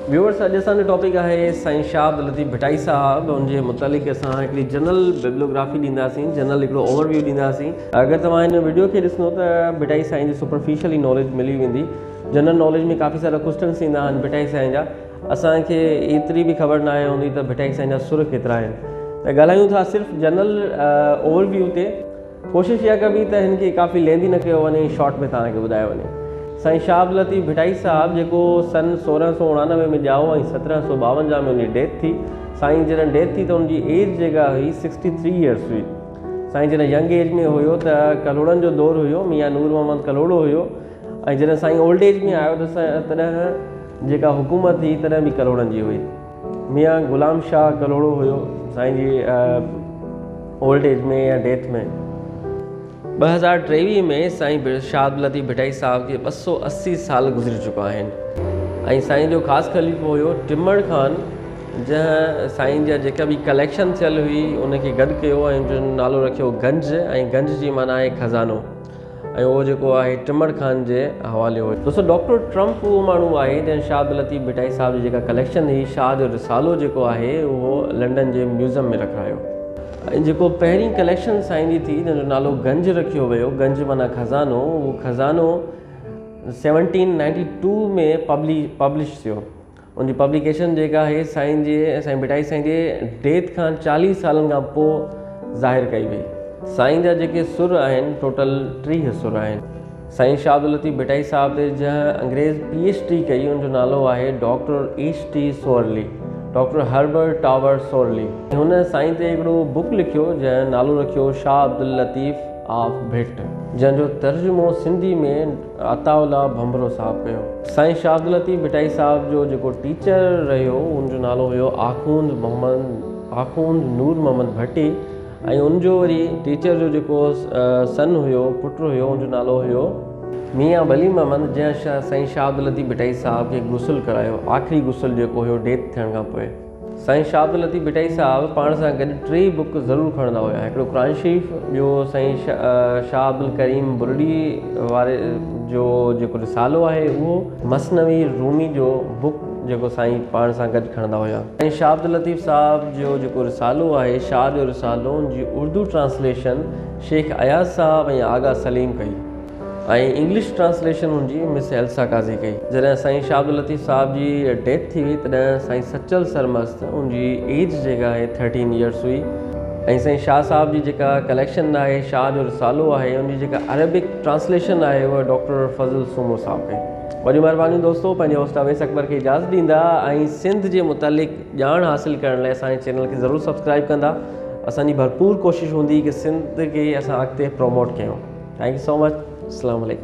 Viewers اڄ اسان جو ٽاپڪ آهي سائين شاهه عبد لطيف ڀٽائي صاحب ان جي متعلق اسان هڪڙي جنرل ببلوگرافي ڏينداسين جنرل هڪڙو اوور ويو ڏينداسين اگر توهان هن ويڊيو کي ڏسندو ته ڀٽائي سائين جي سپرفيشل ئي ناليج ملي ويندي جنرل ناليج ۾ ڪافي سارا ڪوشچنس ٿيندا آهن ڀٽائي سائين جا اسان کي ايتري به خبر نه آهي هوندي ته ڀٽائي سائين جا سر ڪيترا آهن ته ڳالهايون ٿا صرف جنرل اوور ويو تي ڪوشش اها ڪبي ته هن کي ڪافي لينڌي نه ڪيو وڃي شارٽ ۾ توهان کي ٻڌايو وڃي سائين شهاب لطيف ڀٽائي صاحب جيڪو سن سورهن سؤ اڻانوي ۾ ڄائو ۽ سترهن سؤ ٻاونجاهه ۾ ان جي ڊيٿ ٿي سائين جڏهن ڊيٿ ٿي ته ان جي ايج جيڪا هئي سڪسٽي ٿري ايئرس هئي سائين جڏهن ينگ ايج ۾ هيو ته ڪلهوڙن جو دور هيو ميان نور محمد ڪلهوڙو هيو ۽ جڏهن سائين اولڊ ايج ۾ آيو ته تڏهن جيڪا حڪومت هئي تڏهن به ڪلهوڙن جي هئي ميان غلام شاهه ڪلهوڙو هيو سائين جي اولڊ ايج ۾ يا ڊيٿ ۾ ٻه هزار ٽيويهه ۾ سائين شاهه عبدالطيف ڀٽائي صاحب جي ٻه سؤ اسي سال گذري چڪا آهن ۽ سائين جو خاص خليفو هيو ٽمڙ خان جنهن سائين جا جيڪا به ڪليڪشن ٿيل هئي ان کي گڏ ڪيو ۽ جن نالو رکيو گنج ۽ گنج جي معنيٰ آهي خزانو ۽ اهو جيڪو آهي ٽمڙ خان جي حوالي هو. دوستو ڊاڪٽر ٽرمپ اهو ماڻهو آهي جنهن شاهه عبداللطيف ڀٽائي صاحب جي جيڪا ڪليڪشن هئي شاهه جو رسالو جيڪو آهي اهو لنڊن جي ميوزم ۾ رکرايو ۽ جيڪو پهرين ڪليڪشن سائين جي ٿي جنهن جو نالو گنج رکيو ويو گنج معنيٰ خزانو اهو خزانو سيونٽين نائنٽي ٽو ۾ پبلش ٿيو ان جي پبليڪيشن جيڪا آهي سائين جي سائين ڀٽائي سائين جي ڊيٿ کان چاليهه سالن کان پوء ظاهر ڪئي وئي سائين جا جيڪي سر آهن ٽوٽل ٽيهه سر آهن سائين شاهه عبداللطيف ڀٽائي صاحب تي جنهن انگريز پي ايچ ڊي ڪئي ان جو نالو آهي doctor H T Sorley doctor Herbert Tower Sorley هن سائين تي هڪڙو بڪ لکيو جنهن نالو رکيو شاهه عبداللطيف آف ڀٽ جنهن جو ترجمو سنڌي ۾ عطاء الله ڀنڀرو صاحب ڪيو. سائين شاهه عبداللطيف ڀٽائي صاحب جو جيڪو ٽيچر رهيو ان جو نالو هيو آخوند محمد آخوند نور محمد ڀٽي ۽ ان جو وري ٽيچر جو جيڪو سن هيو پٽ هيو ان جو نالو هيو ميان ولي محمد جنهن سائين شاهه عبداللطيف ڀٽائي صاحب کي غسل ڪرايو آخري غسل جيڪو هيو ڊيٿ ٿيڻ کان پوء. سائين شاهه عبداللطيف ڀٽائي صاحب پاڻ سان گڏ ٽي بوڪ ضرور کڻندا هيا هڪڙو قرآن شريف ٻيو سائين شاهه عبدالڪريم برڙي واري جو جيڪو رسالو آهي اهو مثنوي رومي جو بوڪ جيڪو سائين پاڻ سان گڏ کڻندا هيا سائين شاهه عبداللطيف صاحب جو جيڪو رسالو آهي شاهه جو رسالو ان جي اردو ٽرانسليشن شيخ اياز صاحب ۽ آغا سليم ڪئي. ۽ انگلش ٽرانسليشن ان جي مس ايلسا قاضي ڪئي. جڏهن سائين شاهه عبداللطيف صاحب جي ڊيٿ ٿي وئي تڏهن سائين سچل سرمست ان جي ايج جيڪا آهي ٿرٽين يئرس هئي ۽ سائين شاهه صاحب جي جيڪا ڪليڪشن آهي شاهه جو رسالو آهي ان جي جيڪا عربڪ ٽرانسليشن آهي اها ڊاڪٽر فضل سومو صاحب ڪئي. وڏيون مهربانيون دوستو پنهنجي هوسٽ اويس اڪبر کي اجازت ڏيندا ۽ سنڌ جي متعلق ڄاڻ حاصل ڪرڻ لاء اسان جي چينل کي ضرور سبسڪرائب ڪندا اسان جي ڀرپور ڪوشش هوندي ڪي سنڌ کي اسان اڳتي پروموٽ ڪيون ٿينڪ يو سو مچ اسلام عليڪم.